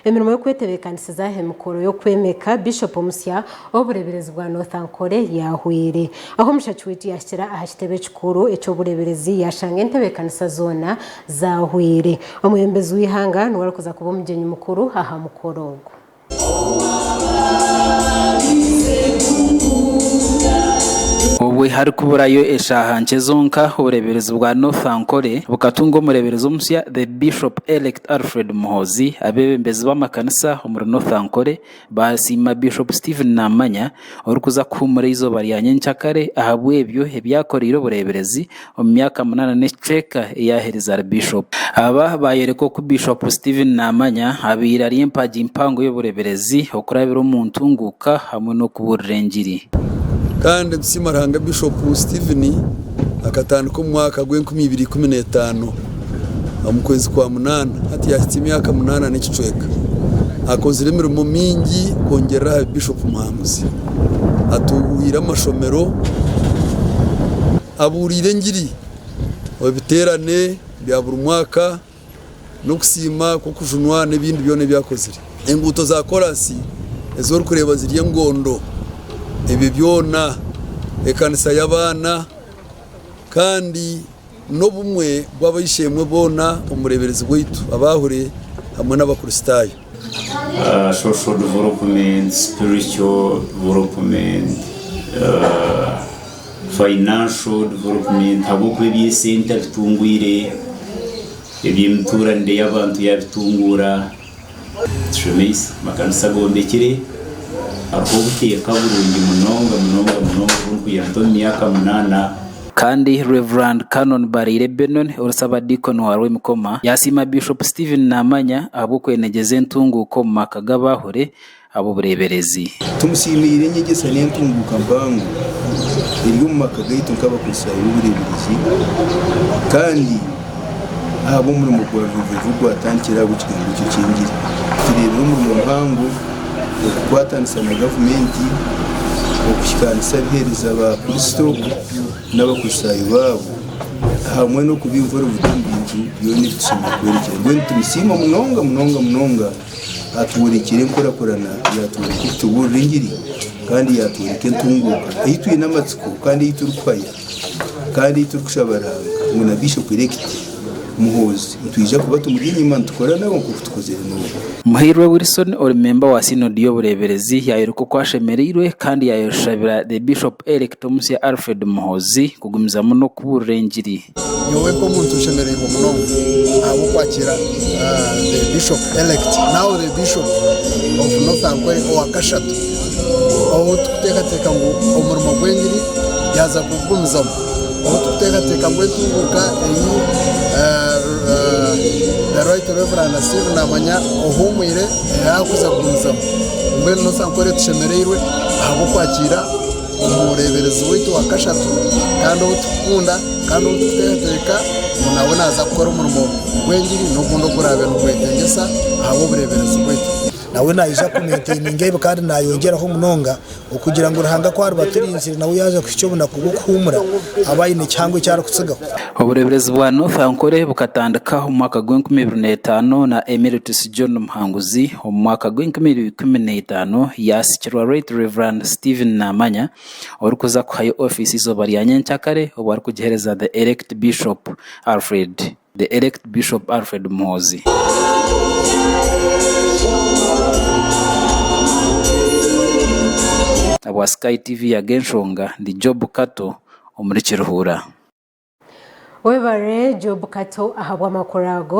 Emirimo y'okwetebeekanisiza aha mikoro y'okwemeka Bishop omusya ow'obureeberezi bwa North Ankole yaahwaire. Ahu mushaki waitu yaahikira aha kitebe ekikuru eky'obureeberezi yaashanga entebeekanisa zoona zaahwaire. Omwebembezi w'eihanga niwe arikuza kuba omugyenyi mukuru aha mukoro ogu. Obwe harikuburayo eshaaha nkye zonka obureeberezi bwa North Ankole bukatunga omureeberezi omusya, The Bishop Elect. Alfred Muhoozi, abeebembezi b'amakanisa omuri North Ankole baasiima Bishop Stephen Namanya orikuza kuhuumura eizooba rya nyenkya kare ahabw'ebyo ebi akoreire obureeberezi omu myaka munaana n'ekicweka ei aaherize ari Bishop. Aba baayoreka oku Bishop Stephen Namanya abaire ari empagi mpango y'obureeberezi, okurabira omu ntunguuka hamwe n'okubuurira engiri. Kandi nitusiima Ruhanga Bishop Stephen akatandika omu mwaka gw'enkumi ibiri ikumi na etaano. omu kwezi kwa munaana hati yahitsya emyaka munaana n'ekicweka akozire emirimo mingi kwongyerera aha Bishop Muhanguzi atuuhire amashomero abuuriire engiri omu biteerane bya buri mwaka n'okusiima kw'okujunwa n'ebindi byona ebi akozire enguuto za koraasi ezi orikureeba ziri engondo ebyo byona ekanisa y'abaana kandi n'obumwe bw'abaishe-emwe boona omu bureeberezi bwaitu, abaahure hamwe n'Abakristaayo. Social Development, Spiritual Development, Financial Development, ahabw'okuba eby'esente abitungwire, eby'emituuranire y'abantu yaabitunguura. Tushemeise amakanisa agombekire hariho obuteeka burungi munonga munonga munonga obu ndikugira nti omu myaka munaana. Kandi Rev. Canon Baraire Benon, ori Ssabadiikoni wa Rwemikoma, yaasiima Bishop Stephen Namanya ahabw'okwenegyeza entunguuka omu maka g'abaahure ab'obureeberezi. Tumusiimiire enyegyesa n'entunguuka mpango eri omu maka gaitu nk'Abakristaayo b'obureeberezi kandi ahabw'omurimo gwa buriijo ogu gwatandikire ahabwa ekigambo ekyo eky'engiri. Tureebire omurimo muhango okukwatanisa na gavumenti okuhikaanisa abiheereza ba Kristo n'Abakristaayo baabo hamwe n'okubaihura omu bintu byona ebi tushemereire kwerekyera. Mbwenu nitumusiima munonga munonga munonga. Atworekire enkurakurana yaatworeka oku tubuurira engiri kandi yaatworeka entunguuka ei twine amatsiko kandi ei turikuhaya kandi ei turikushaba Ruhanga ngu na Bishop Elect Muhoozi nitwija kuba tumuri enyima nitukora nabo nk'oku tukozire n'obu. Muhairwe Wilson ori memba wa Synod y'obureeberezi yaayoreka oku ashemereirwe kandi yaayoshabira The Bishop Elect Omusya Alfred Muhoozi kugumizamu n'okubuurira engiri. Nyowe nk'omuntu nshemereirwe munonga ahabw'okwakiira the bishop elect now the bishop of North Ankole owa kashatu ou turikuteekateeka ngu omurimo gw'engiri yaaza kugugumizamu, ou turikuteekateeka ngu entunguuka ei the right Rev Stephen Namanya ohuumwire yaakuza kugumizamu. Mbwenu North Ankole tushemereirwe ahabw'okwakiira. omureeberezi waitu wa kashatu kandi ou turikukunda kandi ou turikuteekateeka ngu nawe naaza kukora omurimo gw'engiri n'ogundi oguraabe nigwetengyesa ahabw'obureeberezi bwaitu. Nawe naija kumentaininga ebi kandi naayongyeraho munonga okugira ngu Ruhanga ku ariba aturinzire nawe yaaza kuhikya obunaku bw'okuhuumura abe aine ekihango eki arikutsigaho. Obureeberezi bwa North Ankole bukatandika omu mwaka gw'enkumi ibiri na etaano na Emeritus John Muhanguzi Omu mwaka gw'enkumi ibiri ikumi na itaano, yaasikirwa Right Rev. Stephen Namanya, orikuza kuhayo ofiisi eizooba rya nyenkyakare, obu arikugiheereza The Elect Bishop Alfred The Elect Bishop Alfred Muhoozi. Obwa Sky TV yaga enshonga, ndi Job Kato omuri Kiruhura. Webare Job Kato ahabw'amakuru ago.